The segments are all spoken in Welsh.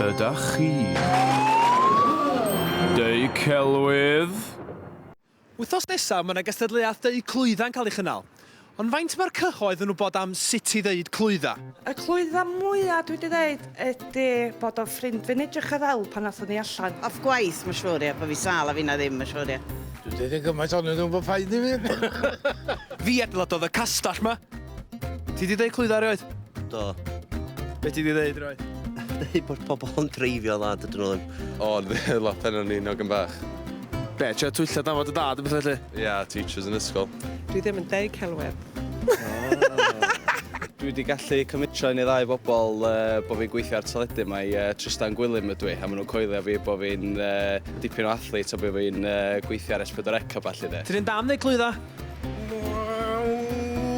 Ydach chi'n deu celwydd? Wythnos nesaf mae yna gystadleuaeth deu clwyddau'n cael ei chynnal. Ond faint mae'r cyhoedd yn wybod am sut i ddeud clwydda? Y clwydda mwya dwi 'di ddeud ydi bod o'n ffrind fi'n edrych ar ddel pan athon ni allan. Off gwaith ma siŵr ia, bo fi sâl a finna ddim ma siŵr ia. Dwi 'di deud gymaint onyn nhw bo paid i fi. Fi adeiladodd y castell ma. Ti di dweud clwydda erioed? Do. Be ti di dweud erioed? Dweud bod pobl yn dreifio dda, dydyn nhw ddim. O, dde, lot enw ni nog yn bach. Be, trio twyllo dan fod y dad yn beth felly? Ia, yeah, teachers yn ysgol. Dwi ddim yn deud celwedd. Dwi wedi gallu cymitro un i ddau bobl uh, bod fi'n gweithio ar teledu. Mae uh, Tristan Gwilym ydw i, a maen nhw'n coelio fi bod fi'n uh, dipyn o athlet a bod fi'n uh, gweithio ar S4C a falle de. Ti'n un dam neu clwydda?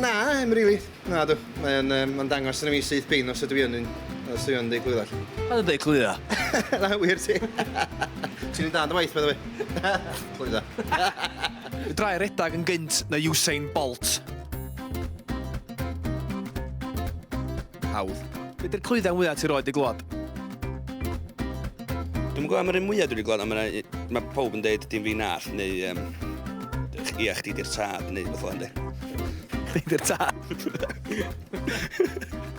Na, em rili. Na dw, mae'n um, ma dangos yn y mi syth bin os ydw i yn un, os ydw i yn dweud glwydda. Pa'n yn dweud glwydda? Na, wir ti. Ti'n un da yn dy waith, bydde fi. Glwydda. Drai redag yn gynt na Usain Bolt. Hawdd. Be di'r clwyddau mwyaf ti roed i glwad? Dwi'n gwybod am yr un mwyaf dwi'n gwybod, am yna, mae pob yn dweud dim fi nall, neu um, ia, chdi di'r tad, neu beth o'n dweud. Chdi di'r tad?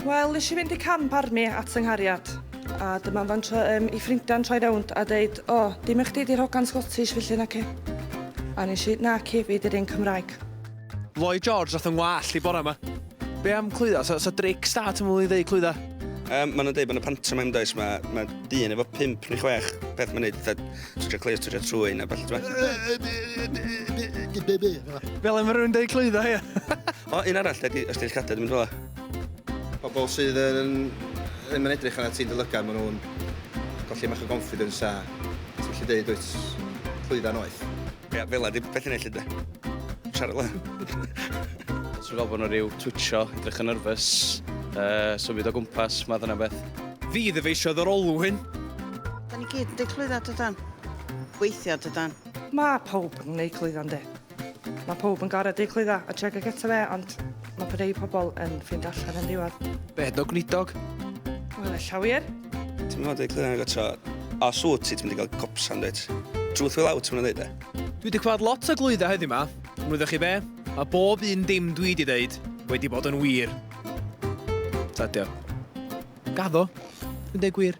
Wel, nes i fynd i camp arni at yng nghariad, a dyma fan tro, um, i ffrindiau'n troi rownd a dweud, o, oh, dim eich di di'r hogan Scottish felly na ci. A nes i, na ci, fi di'r un Cymraeg. Lloyd George nath yng ngwallt i bore ma. Be am clwydda? So, so Drake Star ti'n mwyn i ddeud clwydda? Um, Mae'n dweud bod y pantomime does, mae ma dyn efo pimp neu chwech peth mae'n neud, fatha twtio cleir, twtio trwy neu beth. Fel yma rhywun dweud clwydda, ia. o, un arall, ydy, os ti'n cadw, dwi'n mynd fel Pobl sydd yn ddim yn edrych arna ti'n dylygar, maen nhw'n golli mach o confidence a ti'n gallu dweud wyt clwydda noeth. Ie, fel 'na 'di betha neud 'lly 'de? Siarad lan. Os ti'n gweld bod 'na ryw twitcho, edrych yn nyrfys, uh, symud o gwmpas, math yna beth. Fi ddyfeisiodd yr olwyn. Da ni gyd wedi clwydda dydan. Gweithio dydan. Mae pawb yn gwneud clwydda yndi. Mae pawb yn gorau deud clwydda a treg y eto fe, ond Mae bod ei pobl yn ffind allan yn ddiwedd. Bed o gwlidog. Wel, e llawier. Ti'n mynd i glwyr yn tro. A sŵt ti, ti'n mynd i gael copsan, dweud. Truth will out, ti'n mynd i dweud e. Dwi wedi clywed lot o glwyddau heddiw ma. Yn wyddoch chi be? Mae bob un dim dwi wedi dweud wedi bod yn wir. Tadio. Gaddo. Dwi'n dweud gwir.